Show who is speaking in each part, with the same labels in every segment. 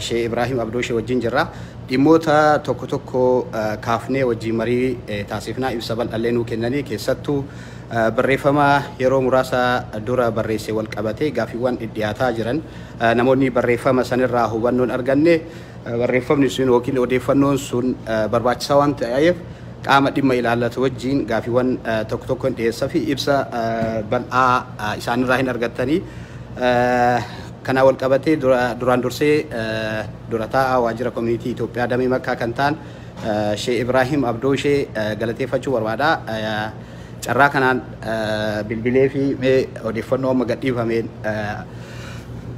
Speaker 1: She Ibrahim Abdoo she wajjin jirra. Dhimmoota tokko tokko kaafnee wajjin marii taasifnaa ibsa bal'allee nuu kennanii keessattuu barreeffama yeroo muraasa dura barreesse wal qabatee gaaffiiwwan dhidhiyaataa jiran namoonni barreeffama sanirraa hubannoon arganne barreeffamni sun yookiin odeeffannoon sun barbaachisaa waan ta'eef qaama dhimma ilaallatu wajjin gaaffiiwwan tokko tokko hin dhiyeessa fi ibsa bal'aa isaanirraa hin argattanii Kanaan walqabatee duraan dursee Dura Taa'aa Waajjira Komuniitii Itoophiyaa Damee Makkaa kan ta'an Sheeh Ibraahim Abdoo ishee galateeffachuu barbaada. Carraa kanaan bilbileefii mee odeeffannoo amma gadhiifameen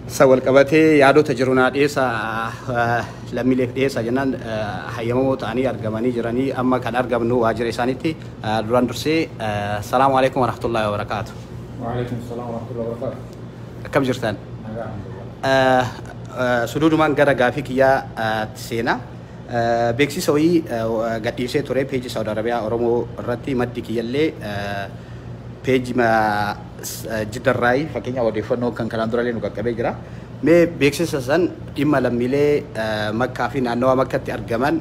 Speaker 1: san walqabatee yaadota jiru naa dhiyeessa lammiileef dhiyeessa jennaan hayyamamoo ta'anii argamanii jiranii amma kan argamnu waajjira isaanitti duraan dursee salaamu alaikum warahmatullahi wabarakaatu. Waalaikum salaam
Speaker 2: warahmatullahi wabarakaatu. akkam jirtaan
Speaker 1: suduudumaan gara gaafii kiyyaa tti seenaa beeksisa wayii gadhiisee ture peejii saawud arabiyaa oromoo irratti maddi kiyyallee peejii jiddarraayi fakkeenyaa odeeffannoo kan kanaan durallee nu qaqqabee jira mee beeksisa san dhimma lammiilee makkaa fi naannawaa makkatti argaman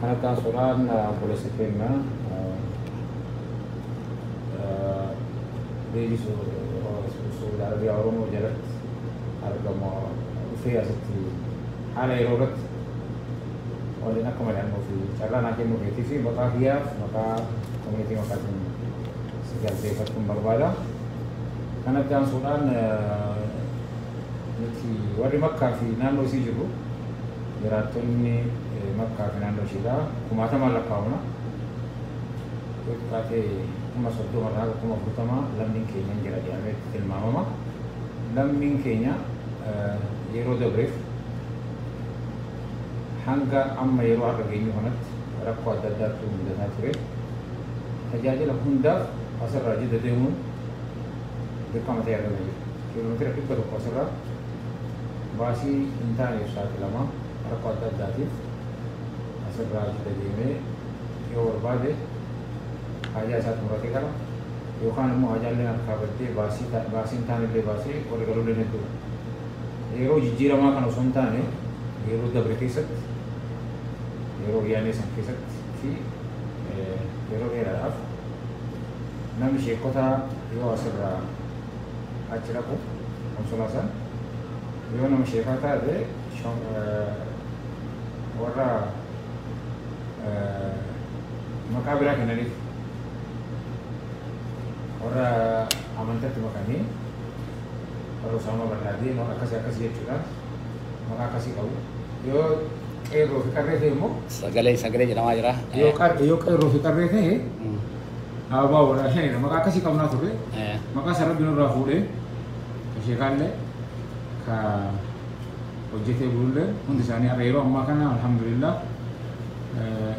Speaker 2: Kana itti aansuudhaan obboleessi keenya Beeji Suudi Arabiyaa Oromoo jalatti argamu dhufee asitti haala yeroo irratti waliin akka mari'annuu fi carraa naa kennuu keetii fi maqaa kiyyaaf maqaa komiitii maqaa isin si galteeffachuun barbaada. Kana itti aansuudhaan nuti warri makkaa fi naannoo isii jirru Jiraattonni Makkaa fi naannoo ishiidhaa kumaatamaan lakkaa'amna. Yoo xiqqaate kuma 30 irraa haga kuma 40 lammiin keenya hin jira jedhamee tilmaamama. Lammiin keenya yeroo dabreef hanga amma yeroo har'a geenyu kanatti rakkoo adda addaatu mudataa ture. Tajaajila hundaaf asirraa jidda deemuun dirqama ta'ee argama jira. Kiiloomeetira 100 asirraa baasii hin taaneef saaxilama. Rakkoo adda addaatiif as irraa as dedeemee yoo barbaade haajaa isaa xumuratee gala. Yookaan immoo haajaalleen harkaa baddee baasii baasii hin taanellee baasee warri galulleen hedduudha. Yeroo jijjiiramaa kana osoo hin taane yeroo dabre keessatti yeroo wayyaanee san keessatti fi yeroo dheeraadhaaf namni sheekotaa yoo as irraa achi dhaqu konsolaa san yoo nama sheekaa taate warra maqaa biraa kennaniif warra amantatti makanii warra usaamaa barnaadii akkasii akkasii jechuudhaan maqaa akkasii qabu yoo qeerroo fi qarree ta'e immoo sagalee sagalee jedhamaa
Speaker 1: jira. yoo qeerroo fi
Speaker 2: qarree ta'e Aabaa Odaa shanidha maqaa akkasii qabnaa turre Eh. maqaa san rabbi nurraa fuudhee ka sheekaallee ka hojjetee bulullee hundi isaanii har'a yeroo ammaa kana alhamdulillah eh,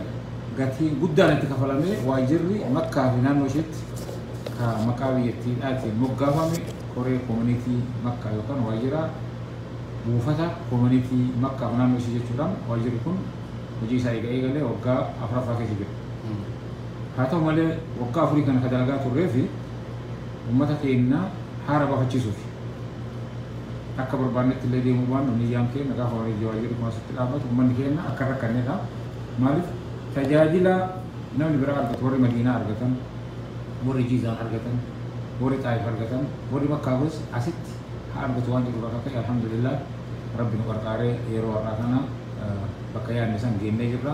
Speaker 2: gatii guddaan itti kafalamee waajjirri makkaa fi naannoo isheetti ka maqaa biyyattiidhaatiin moggaafame koree koominiitii makkaa yookaan waajjira buufata koominiitii makkaa fi naannoo ishee jechuudhaan waajjirri kun hojii isaa eega eegalee waggaa afraffaa keessa jira. Haa ta'u malee waggaa afurii kana ka dalagaa turreefi ummata keenna haara bafachiisuufi. Akka barbaannetti illee deemuu baannu niyyaan keenna gaafa warii Jawaar jedhu kun asitti dhaabbatu ummanni keenna akka hin rakkanneedha. Maaliif tajaajila namni biraa argatu warri Madiinaa argatan, warri Jiizaan argatan, warri Xaayif argatan, warri Makkaa kunis asitti haa argatu waan jedhu irraa ka ka'e Alhamdulillaah Rabbi nu qarqaaree yeroo har'aa kana bakka yaadne san geennee jirra.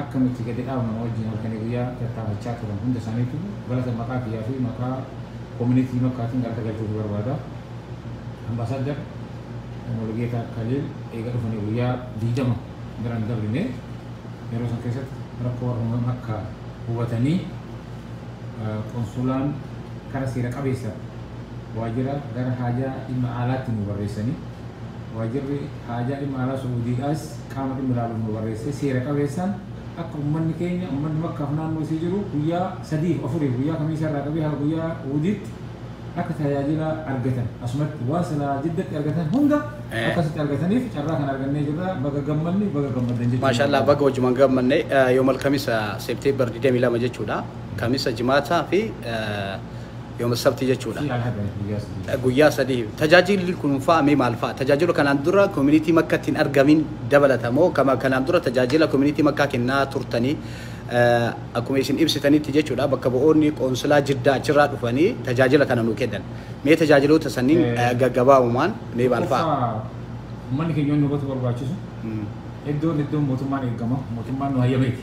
Speaker 2: akka nuti gadi dhaabnu na wajjin halkanii guyyaa tattaafachaa turan hunda isaaniitiifuu galata maqaa kiyyaa fi maqaa Komunitii Makkaatiin galata galchuufii barbaada. Ambaasaaddar Mulugeetaa Kaliil eega dhufanii guyyaa 20 bira hin dabrine. Yeroo san keessatti rakkoo warra Home Makka hubatanii Qonsulaan kara seera qabeessa waajjira gara haajaa dhimma aalaatti nu barreessanii waajjirri haajaa dhimma aalaa Su'uudiidhaas qaama dhimmi ilaaluuf nu barreessee seera qabeessaan akka ummanni keenya ummanni makkaaf naannoo isii jiru guyyaa sadiif afuriif guyyaa kamiisaa irraa qabee haga guyyaa wudiitti akka tajaajila argatan asumatti waan silaa jiddatti argatan hunda Eh. akka asitti argataniif carraa kan argannee jirra baga gammanne baga gammaddan jechuudha. Maashaallah baga hojiman
Speaker 1: gammanne yoomal kamisa seepteembar 22 jechuudha. Kamisa jimaataa fi yooma sabtii jechuudha. Si'a haga guyyaa sadii. Guyyaa sadii. Tajaajilli kunuunfaa mee maal fa'a? Tajaajila kanaan dura koominiitii makkatti hin argamin dabalata moo kama kanaan dura tajaajila koominiitii makkaa kennaa turtanii akkuma isin ibsitanitti jechuudha bakka bu'oonni qoonsilaa jiddaa achirraa dhufanii tajaajila kana nuu kennan. Mee tajaajiloota sanniin gaggabaabumaan mee maal fa'a? Tokkoffaa ummanni keenya
Speaker 2: inni hubatu barbaachisu iddoon iddoon mootummaan eegama mootummaan nu hayyameeti.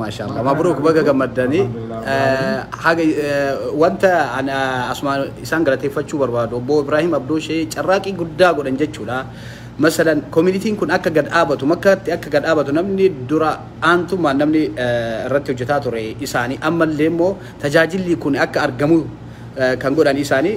Speaker 2: Maashaallah mabruuk
Speaker 1: baga gammaddanii haga wanta ana asumaan isaan galateeffachuu barbaadu obbo Ibrahim Abdooshee carraaqii guddaa godhan jechuudha. Masalan koominitiin kun akka gad dhaabatu makkatti akka gad dhaabatu namni dura aantummaan namni irratti hojjetaa ture isaanii ammallee immoo tajaajilli kun akka argamu kan godhan isaanii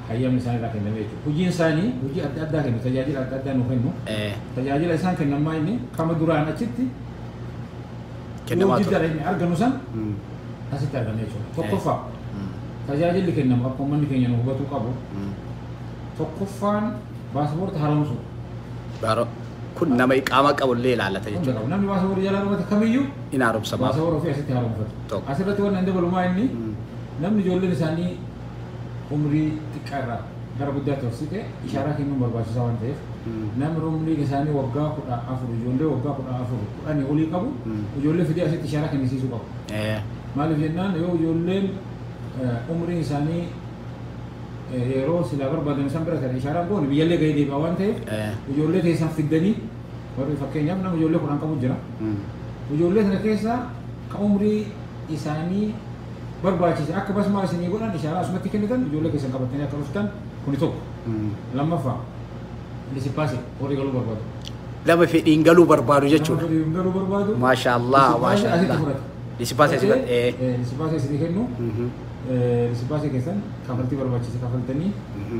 Speaker 2: hayyamni isaan irraa kennamee jechuudha. Hojiin isaanii hojii adda addaa kennu, tajaajila adda addaa nuu kennu. Tajaajila isaan kennan maa inni kama duraan achitti yoo Kennamaa ture. jiddaadha inni arganu san Mm. asitti argana jechuudha. Tokkoffaa Mm. tajaajilli kennamu akka uummanni keenya nu hubatuu qabu Mm. tokkoffaan paaspoortii haaromsuu. Baaro-
Speaker 1: Kun nama iqaamaa qabu illee ilaallata Hunda jechuudha. qabu. Namni paaspoortii jalaa dhumate
Speaker 2: kamiyyuu In haaromsamaaf. paaspoortii
Speaker 1: ofii asitti haaromfatu.
Speaker 2: Tokko. Asirratti waan hin dabalumaa inni Mm. namni ijoolleen isaanii umrii xiqqaa irraa gara guddaatti horsite ishaaraa kennuun barbaachisaa waan ta'eef namni umriin isaanii waggaa kudha afur ijoollee waggaa kudha afur kudhanii olii qabu ijoollee fidee asitti ishaaraa kennisiisuu qabu. Maaliif jennaan yoo ijoolleen umriin isaanii yeroo silaa barbaadan isaan bira ta'e ishaaraa goone biyyallee gahee deebi'a waan ta'eef ijoollee keessan fiddanii warri fakkeenyaaf nama ijoollee kudhan qabu jira. Ijoollee sana keessaa ka umrii isaanii barbaachise akka basmaa isinii godhan ishaaraa asumatti kennitan ijoollee keessan qabattanii akka dhuftan kuni tokko. Lammaffaa disipaasin warri galuu barbaadu. Nama fedhiin
Speaker 1: galuu barbaadu Nama jechuudha. fedhii hin galuu barbaadu.
Speaker 2: Maashaa Allah, Disipaasin maashaa
Speaker 1: asitti Allah. fudhata. Disipaasin asitti fudhata, ee. Ee, Disipaasin isinii kennu. Mhm. Eh, Disipaasin keessan kafaltii barbaachise kafaltanii Mhm.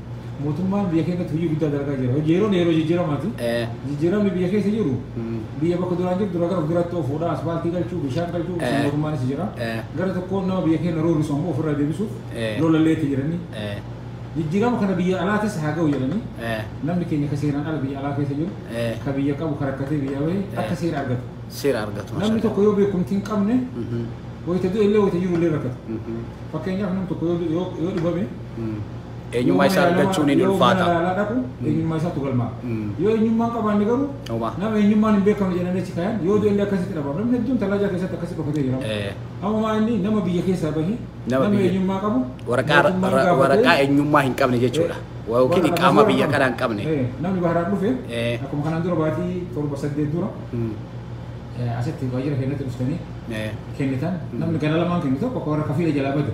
Speaker 2: Mootummaan biyya keenyatti hojii guddaa dalagaa jira. Hojii yeroon yeroo jijjiiramaati. Eh. Jijjiiramni biyya keessa jiru Mm. biyya bakka duraan jirtu irraa gara fuulduraatti oofuudha. Asfaaltii galchuu, bishaan galchuu Eh. sun mootummaanis jira. Eh. Gara tokkoon nama biyya keenya roorrisu ammoo ofirraa deebisuuf Eh. lolallee itti jiranii. Eh. Jijjiirama kana biyya alaatis haa ga'u jedhanii Eh. namni keenya ka seeraan ala biyya alaa keessa jiru Eh. ka biyya qabu ka rakkatee biyya bahe akka seera argatu. Seera argatu. Namni mashallah.
Speaker 1: tokko yoo beekumtii hin
Speaker 2: qabne Mhm. wayita du'e illee wayita jiru illee rakkata. Mhm. Fakkeenyaaf namni tokko yoo yoo yoo dhibame Eenyummaa
Speaker 1: isaa argachuun hin ulfaata. Yoo mana yaalaa dhaqu eenyummaa
Speaker 2: isaatu galmaa. Yoo eenyummaan qabaanne garuu nama eenyummaan hin beekamne jedhanii achi kaayan yoo du'ellee akkasitti dhabama. Namni hedduun tallaajaa keessatti akkasi dhokatee jira. Amma maa inni nama biyya keessaa bahi nama eenyummaa qabu waraqaa
Speaker 1: eenyummaa hin qabne jechuudha. Yookiin iqaamaa biyya kanaa hin qabne. Namni baharaan dhufe
Speaker 2: akkuma kanaan dura baatii torba saddeet dura asitti waajjira keenyatti dhuftanii kennitan namni gara lamaan kennu tokko akka warra kafiila jalaa bade.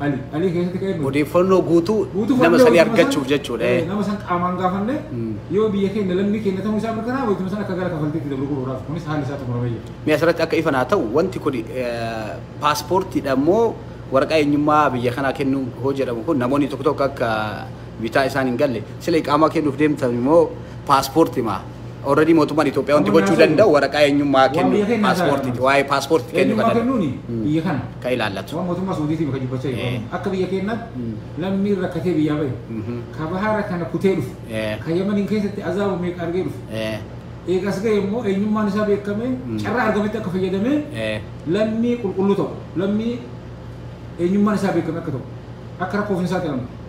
Speaker 2: Ali Ali keessatti ka'ee bade. Odeeffannoo guutuu Guutuu
Speaker 1: nama fudhannee sanii wayituma san- argachuuf jechuudha. eh, eh. Nama san qaamaan gaafanne
Speaker 2: Mm. yoo biyya keenya lammii keenya ta'uu isaa mirkanaa'e wayituma san akka gara kafaltiitti dabru godhuudhaaf kunis haalli isaa xumuramee jira. Mee asirratti akka ifa naa ta'u
Speaker 1: wanti kun eh, paaspoortiidha immoo waraqaa eenyummaa biyya kanaa kennuu hoo jedhamu kun namoonni tokko tokko akka bitaa isaan hin galle sila iqaamaa kennuuf deemtan immoo paaspoorti maa Already mootummaan Itoophiyaa wanti gochuu danda'u waraqaa eenyummaa kennu paaspoortiiti. Waa'ee paaspoortiiti kennu kan danda'u. biyya kana.
Speaker 2: Kan ilaallatu. Waan mootummaa
Speaker 1: Suudiitiif kan dubbachaa
Speaker 2: jiru. Eh. Akka biyya keenyaatti Mm. lammiin rakkatee biyyaa bahe. Mhm. Ka bahaara kana kutee dhufe. Eh. Ka Yamaniin keessatti azaaba meeqa argee dhufe. Eh, Eega as ga'e immoo eenyummaan isaa beekamee Mm. carraa argametti akka fayyadamee eh, lammii qulqulluu ta'u lammii eenyummaan isaa beekame akka ta'u akka rakkoof hin saaxilamne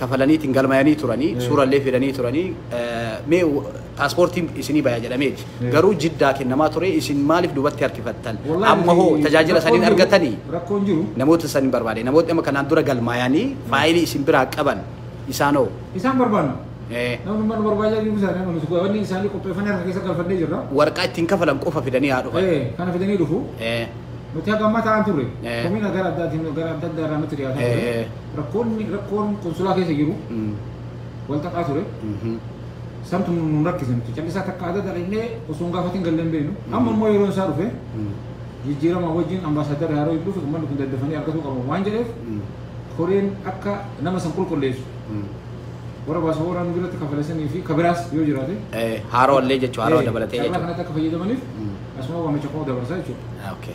Speaker 1: kafalaniitiin galmayanii turani suurallee fidanii turani mee paaspoortiin isinii baya jedhameeti garuu jiddaa kennamaa ture isin maaliif dubatti harkifattan amma hoo tajaajila saniin argatanii namoota
Speaker 2: saniin barbaade
Speaker 1: namootni amma kanaan dura galmayanii faayilii isin biraa qaban isaan hoo isaan barbaanna
Speaker 2: namni mana barbaadaa jiru isaanii amma nuti wanni isaanii qopheeffannee harka keessa galfannee jirra warqaa ittiin kafalan
Speaker 1: qofa fidanii haa dhufan kana fidanii dhufu
Speaker 2: nuti hagamma ta'an turre komiina gara addaatiin gara adda addaa irraa nutti dhiyaataa ture Rakkoonni rakkoon konsulaa keessa jiru wal xaxaa ture. Santu nun rakkise nuti callisaa takka adda dhaqnee osoo hin gaafatin galle hin beeknu. Amma immoo yeroon isaa dhufe jijjiirama wajjin ambaasaadara yeroo dhufe uummanni kun daddafanii argatuu qabu waan jedheef koreen akka nama san qulqulleessu warra baasabooraan biratti kafalesanii fi kabiraas yoo jiraate Haaroo illee jechuu
Speaker 1: haaroo dabalatee carraa jechuudha. kanatti akka fayyadamaniif
Speaker 2: asuma waamicha koo dabarsaa jechuudha. Okay.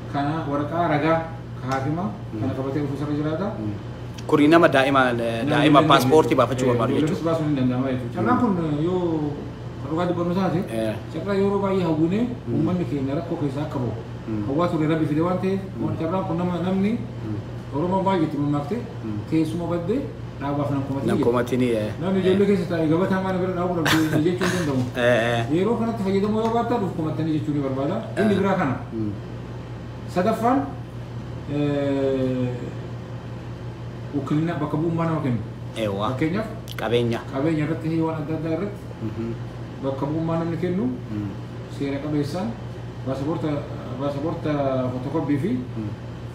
Speaker 2: kana waraqaa ragaa ka haakima kana qabatee dhufu isarra jiraata. Kuni nama
Speaker 1: daa'ima daa'ima paaspoortii baafachuu barbaadu jechuudha. Ijoolleefis baasuun ni danda'ama
Speaker 2: jechuudha. Carraan kun eh, yoo kan dhugaa dubbannu taate Eh. carraa yeroo baay'ee hawwinee uummanni keenya rakkoo keessaa akka bahu Mm. hawwaa ture rabbi fide waan ta'eef waan carraan kun nama namni Oromoon baay'ee itti mammaakte teessuma baddee dhaabaaf nan komatinii. Nan komatinii.
Speaker 1: Namni ijoollee keessa
Speaker 2: taa'e gabataa maana bira dhaabuu dhabdee jechuu hin danda'u. Yeroo kanatti fayyadamuu yoo baattan of komattanii jechuu ni barbaada. Inni biraa kana. Sadaffaan wukkilina bakka bu'ummaa nama kennu. Fakkeenyaaf qabeenya
Speaker 1: qabeenya irratti fi waan
Speaker 2: adda addaa irratti bakka bu'ummaa namni kennu seera qabeessaan baasaboorta baasaboorta footokooppii fi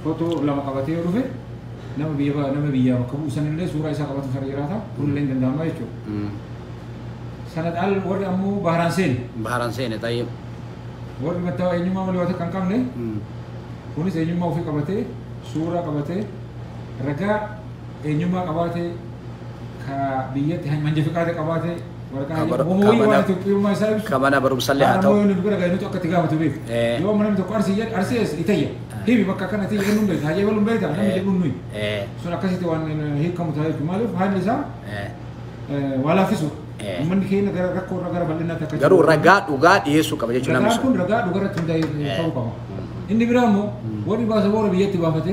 Speaker 2: footoo lama qabatee yoo dhufe Nama biyya nama biyyaa bakka bu'u sanillee suuraa isaa qabatu sana jiraata. Kunillee hin danda'ama jechuudha. Sana dhaal warri ammoo baharaan seene. Baharaan seene tayyib.
Speaker 1: Warri
Speaker 2: mattawaa eenyummaa malee waan takka hin qabne kunis eenyummaa ofii qabatee suuraa qabatee ragaa eenyummaa qabaatee ka biyyatti manja fiqaada qabaatee
Speaker 1: ka mana barumsallee haa ta'u yoo
Speaker 2: namni tokko arsii jedhe arsii eessa itayya himi bakka akkana itayya eenyuun beekta hajee waluun beekta namni jedhuun nuyi sun akkasitti waan hiikamu ta'a jechuudha maaliif haalli isaa waa laaffisuudha. Uummanni keenya gara rakkoo irra gara bal'inaatti akka garuu ragaa dhugaa dhiyeessuu qaba
Speaker 1: jechuudha
Speaker 2: namni sun. Ragaan kun ragaa
Speaker 1: dhugaa irratti
Speaker 2: hundaa'ee
Speaker 1: ta'uu
Speaker 2: qaba. Inni biraa immoo warri baasa boora biyyatti baafate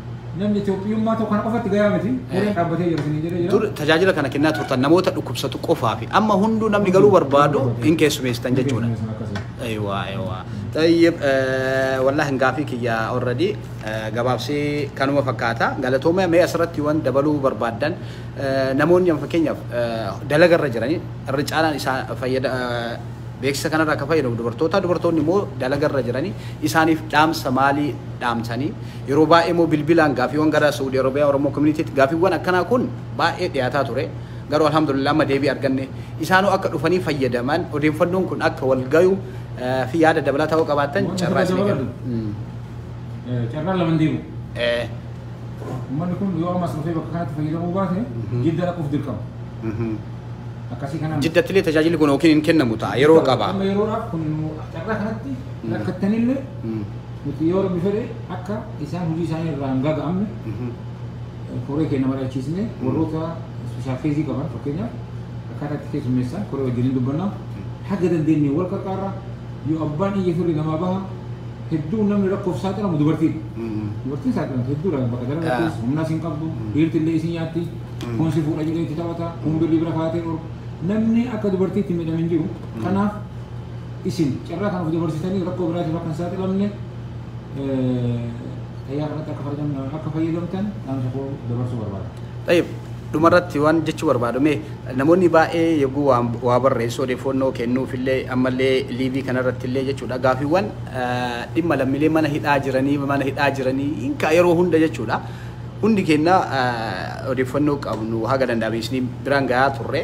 Speaker 2: Namni Itoophiyummaa tokko kana qofatti gayaa miti. Gareen dhaabbatee jira isiniin jedhee jira. Dur tajaajila kana kennaa turtan
Speaker 1: namoota dhukkubsatu qofaa fi amma hunduu namni galuu barbaadu hin keessumeessitan jechuudha. Ewa ewa. Tayyib wallahi gaafii kiyya already gabaabsee kanuma fakkaata. Galatooma mee asirratti waan dabaluu barbaaddan namoonni amma fakkeenyaaf dalaga irra jiranii irra caalaan isaa fayyada beeksisa kanarraa akka fayyadamu dubartoota dubartoonni immoo dalaga irra jiranii isaaniif dhaamsa maalii dhaamsanii Yeroo baay'ee immoo bilbilaan gaaffiiwwan gara Suudi Arabiyaa Oromoo Communitytti gaaffiiwwan akkanaa kun baay'ee dhiyaataa ture. Garuu Alhamdulillah amma deebii arganne. Isaanuu akka dhufanii fayyadaman odeeffannoon kun akka wal gayu fi yaada dabalataa yoo qabaattan Waan carraa asirra isinii dabarru. kenna. Mm.
Speaker 2: Eh, Carraan lama hin deemu. Eh. Uummanni kun yoo ammas dhufee bakka kanatti fayyadamuu baate jidda dhaquuf dirqama. Mhm. Akkasii
Speaker 1: kanaan. Jiddatti illee tajaajilli kun yookiin hin kennamu ta'a yeroo qaba. Amma yeroodhaaf kun
Speaker 2: carraa kanatti rakkattanillee Mm. Nuti yoo Rabbi fedhe akka isaan hojii isaanii irraa hin gaaga'amne koree keenya mari'achiisnee warroota ispeeshaal keezii qaban fakkeenyaaf akkaataa itti keessummeessan koree wajjin hin dubbanna. Haga dandeenye wal qarqaarra yoo abbaan iyya firri namaa baha hedduu namni rakkoof saaxilamu dubartiidha. Dubartiin saaxilamtu hedduudha bakka dalagattis humnas hin qabdu dhiirti illee isin nyaatti kun si fuudha jedhee itti taphata kun birrii bira kaatee dhorku namni akka dubartiitti miidhame hin jiru kanaaf Isin carraa kana of dabarsitanii rakkoo biraatiif akka hin saaxilamne tayyaa kanatti akka fayyadam- akka fayyadamtan dhaamsa koo dabarsuu barbaada. Tayyib,
Speaker 1: dhumarratti waan jechuu barbaadu mee namoonni baay'ee yogguu waan- waa barreessu odeeffannoo kennuuf illee ammallee liivii kanarratti illee jechuudha gaafiiwwan eh, dhimma lammiilee mana hidhaa jiranii mana hidhaa jiranii hinkaa yeroo hunda jechuudha hundi keenya eh, odeeffannoo qabnu haga danda'ame isin biraan gahaa turre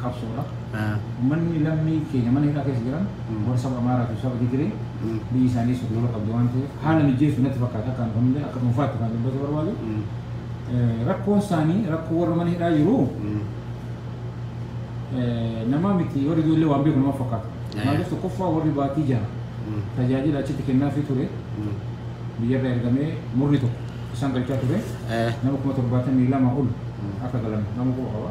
Speaker 2: qabsoodha. Ummanni lammii keenya mana hidhaa keessa jiran warra saba Amaaraa fi saba Tigiree biyyi isaanii sukkulola qabdi waan ta'eef haala mijeessu natti fakkaata akka kan hundee akka dhuunfaatti kan dubbachuu barbaadu. Rakkoon isaanii rakkoo warra mana hidhaa jiru namaa miti warri ijoollee waan beeku nama fakkaata. Maaliif tokkoffaa warri baatii jaha tajaajila achitti kennaafii ture biyyarra ergamee murni tokko isaan galchaa ture nama kuma torbaatamii lama ol akka galan nama quba qaba.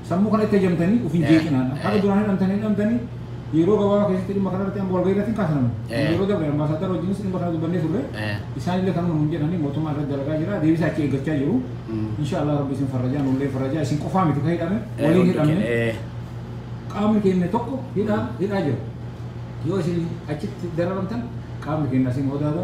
Speaker 1: Sammuu kana itti ajamtanii
Speaker 2: ofiin jeeqinaa dha. Haga duraan hidhamtanii hidhamtanii yeroo gabaabaa keessatti dhimma kana irratti amma walgahii irratti hin kaasnamu. Yeroo dabre ambaasaaddara wajjinis dhimma kana dubbannee turre. Isaan illee kanuma nuun jedhanii mootummaan irratti dalagaa jira. Deebisaa achi eeggachaa jiru. Insha Allah rabbi isin farrajaa nullee farrajaa isin qofaa miti ka hidhame waliin hidhamne. Qaamni keenya tokko hidhaa hidhaa jira. Yoo isin achitti dararamtan qaamni keenya isin hoodaada.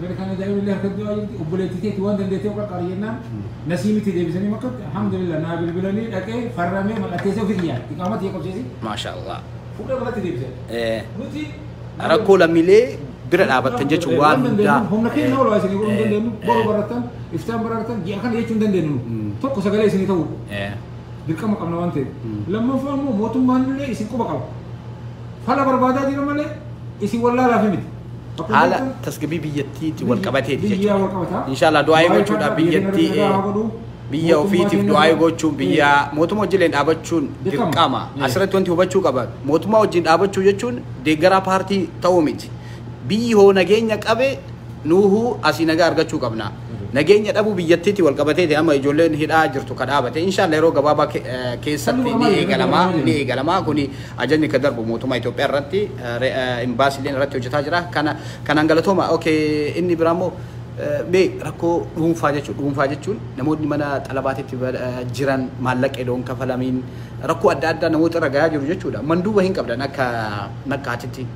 Speaker 2: Gara kana daa'imni illee harka du'aa jirti obboleetti teetti waan dandeettee of qaqqaari jennaan nasii miti deebisanii makkatti alhamdulillah naa bilbilanii dhaqee farramee mallatteessee ofii kiyyaa iqaama tiyya qabsiisi maashaa allah
Speaker 1: fuudhee makkatti deebisan
Speaker 2: Eh, nuti rakkoo
Speaker 1: lammiilee bira dhaabattan jechuun waan hundaa humna keenya olaa
Speaker 2: isinii godhuu hin Eh, dandeenyu eh. boruu baratan iftaan baratan ji'a kana jechuu hin dandeenyu Mm. tokko sagalee isinii ta'uu Eh, dirqama qabna waan ta'eef Mm. lammaffaa immoo mootummaan illee isin quba qaba fala barbaadaa jira malee isin wallaalaa fi miti haala
Speaker 1: tasgabbii biyyattiitti wal qabateeti jechuudha. Inshaallah du'aa'ii gochuudhaaf biyyattii biyya ofiitiif du'aa'ii gochuun biyya mootummaa wajjin dhaabachuun dirqama. Asirratti wanti hubachuu qaban mootummaa wajjin dhaabachuu jechuun deeggaraa paartii ta'uu miti. Biyyi hoo nageenya qabe nuuhuu asii nagaa argachuu qabna. Nageenya dhabuu biyyattiitiin walqabateeti amma ijoolleen hidhaa jirtu ka dhaabate. Inshaalla yeroo gabaabaa ke- eh, keessatti ni eegalama. Ni eegalama. Kuni ajajni ka darbu mootummaa Itoophiyaa irratti eh, re- eh, imbaasiileen irratti hojjetaa jira. Kana kanaan galatooma. Okay, inni biraa immoo eh, mee rakkoo dhuunfaa jechuun dhuunfaa jechuun namoonni mana xalabaatitti ba- eh, jiran maallaqa edoon kafalamiin rakkoo adda addaa namoota irra gahaa jiru jechuudha. Manduuba hin qabdan akka nakkaatitti.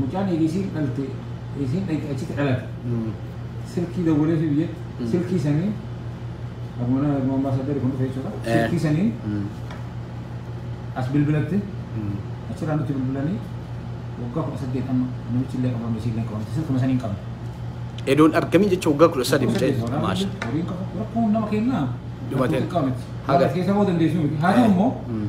Speaker 2: Mucaan eega isiin dhalte isiin dhayxe achitti dhalate. Silkii dawwaleefi biyyatti silkii sanii akkuma nama akkuma ambaasaaddarri kun dhufe jechuudha. Eh. Silkii sanii as bilbilatti achirraa nutti bilbilanii waggaa kudha saddeet amma namichi illee qabamne isiin illee qabamte silkuma sanii hin qabne. Edoon
Speaker 1: argamii jecha waggaa kudha sadii mucaa jechuudha. Maasha. Rakkoon nama
Speaker 2: kennaa. Dhumatee. Haga.
Speaker 1: Haga. Keessa
Speaker 2: boo dandeessu miti. Haa ta'u immoo Mm.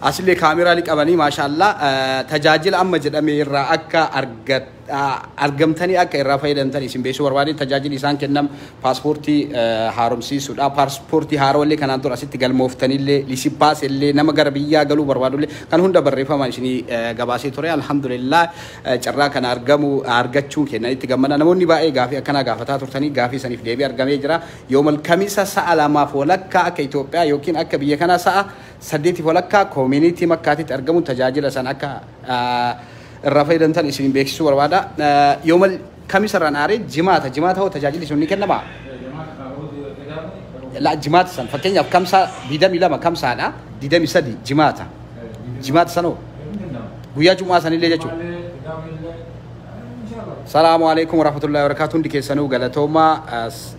Speaker 2: Asille kaameraa ni qabanii maashaallah tajaajila amma jedhame irraa akka argamtanii akka irraa fayyadamtan isin beeksisuu barbaade tajaajili isaan kennam paaspoortii haaromsiisuudha. Paaspoortii haarollee kanaan dura asitti galmooftanillee lisipaas illee nama gara biyyaa galuu barbaadullee kan hunda barreeffamaan isinii gabaasee ture alhamdulillah carraa kana argamu argachuun kenna itti gammada namoonni baay'ee gaafii akkanaa gaafataa turtanii gaafii isaniif deebii argamee jira yoomal kamisa sa'a lamaaf walakkaa akka Itoophiyaa yookiin akka biyya kanaa sa'a saddeetiif walakkaa koomiiniitii Makkaatitti argamuun tajaajila san akka irraa fayyadamtan isin beeksisuu barbaada. Yooma kamisa irraan aaree jimaata. Jimaata hoo tajaajilli sun ni kennama? La jimaata san fakkeenyaaf kamsaa 22 kamsaadha 23 jimaata. Jimaata san hoo? Guyyaa Jumaa sanillee jechuudha. Salaamu alaikum warahmatullahi wabarakatuh hundi keessanuu galatoomaa.